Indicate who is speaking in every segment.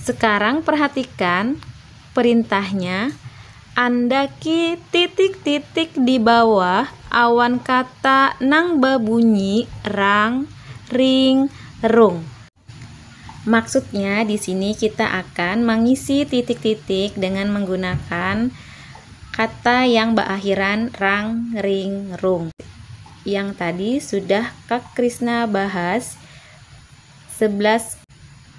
Speaker 1: Sekarang perhatikan perintahnya andaki titik-titik di bawah awan kata nang babunyi rang, ring, rung. Maksudnya di sini kita akan mangisi titik-titik dengan menggunakan kata yang baakhiran rang, ring, rung yang tadi sudah Kak Krisna bahas Sebelas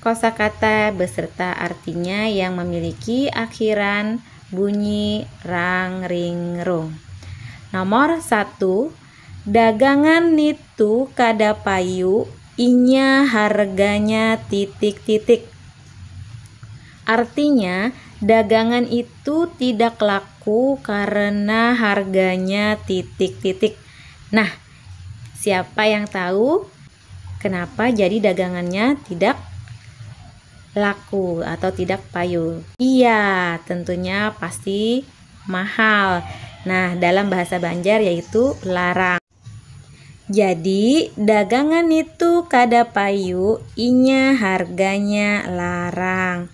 Speaker 1: kosakata beserta artinya yang memiliki akhiran bunyi rang ring rung. Nomor satu, dagangan nitu kada payu inya harganya titik titik. Artinya dagangan itu tidak laku karena harganya titik titik. Nah, siapa yang tahu? Kenapa jadi dagangannya tidak laku atau tidak payu? Iya, tentunya pasti mahal. Nah, dalam bahasa Banjar yaitu larang. Jadi, dagangan nitu kada payu inya harganya larang.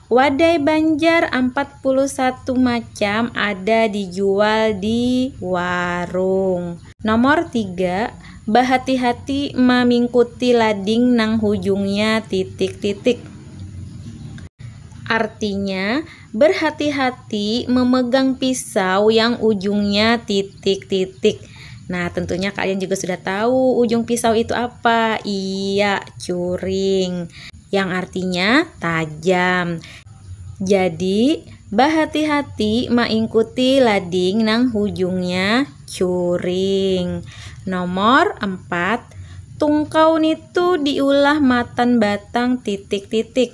Speaker 1: Wadai banjar ampat puluh satu macam ada dijual di warung. Nomor tiga, bahati-hati mamingkuti lading nang hujungnya titik-titik. Artinya, berhati-hati memegang pisau yang ujungnya titik-titik. Nah, tentunya kalian juga sudah tahu ujung pisau itu apa. Iya, curing. yang artinya tajam. Jadi, bahati-hati maingkuti lading nang hujungnya curing. Nomor empat, tungkau nitu diulah matan batang titik-titik.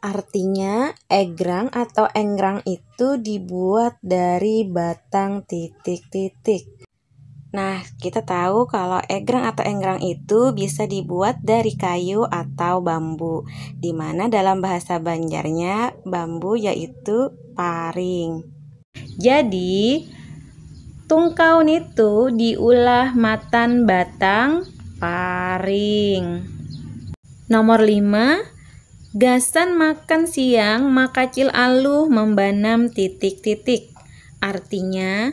Speaker 1: Artinya, egrang atau engrang itu dibuat dari batang titik-titik. Nah, kita tahu kalau egrang atau enggrang itu bisa dibuat dari kayu atau bambu, di mana dalam bahasa Banjarnya bambu yaitu paring. Jadi, tungkau nitu diulah matan batang paring. Nomor lima, gasan makan siang makacil aluh mambanam titik-titik. Artinya.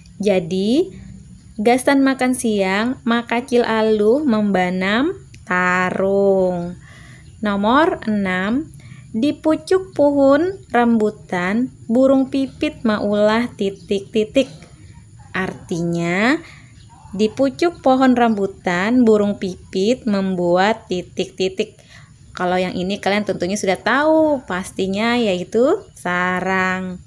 Speaker 1: Jadi, gasan makan siang, Makacil Aluh mambanam tarung. Nomor anam, Di pucuk puhun rambutan, burung pipit maulah titik-titik. Artinya, di pucuk pohon rambutan, burung pipit membuat titik-titik. Kalau yang ini kalian tentunya sudah tahu, pastinya yaitu sarang.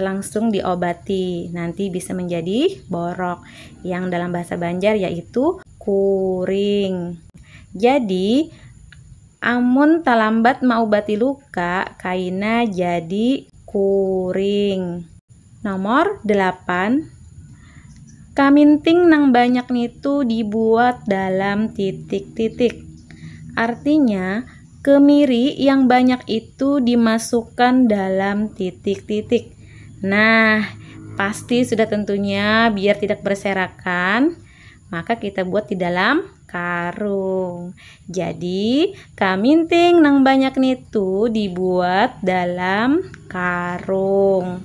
Speaker 1: langsung diobati nanti bisa menjadi borok yang dalam bahasa Banjar yaitu kuring. Jadi amun talambat maubati luka kaina jadi kuring. Nomor delapan, Kaminting nang banyak nitu dibuat dalam titik-titik. Artinya, Kemiri yang banyak itu dimasukkan dalam titik-titik. Nah, pasti sudah tentunya biar tidak berserakan, maka kita buat di dalam karung. Jadi, kaminting nang banyak nitu dibuat dalam karung.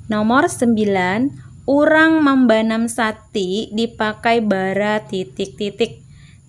Speaker 1: Nomor 9, urang mambanam sati dipakai bara titik-titik.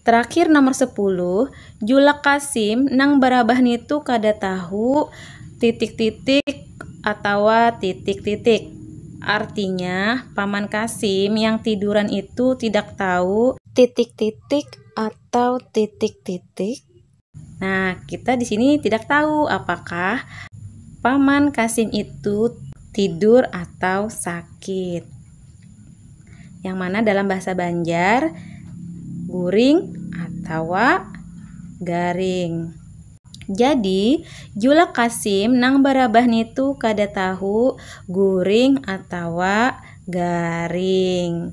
Speaker 1: Terakhir nomor sepuluh, Julak Kasim nang barabah nitu kada tahu titik-titik atawa titik-titik. Artinya, Paman Kasim yang tiduran itu tidak tahu titik-titik atau titik-titik. Nah, kita di sini tidak tahu apakah paman Kasim itu tidur atau sakit. Yang mana dalam bahasa Banjar guring atau garing. Jadi, julak Kasim nang barabah nitu kada tahu guring atau garing.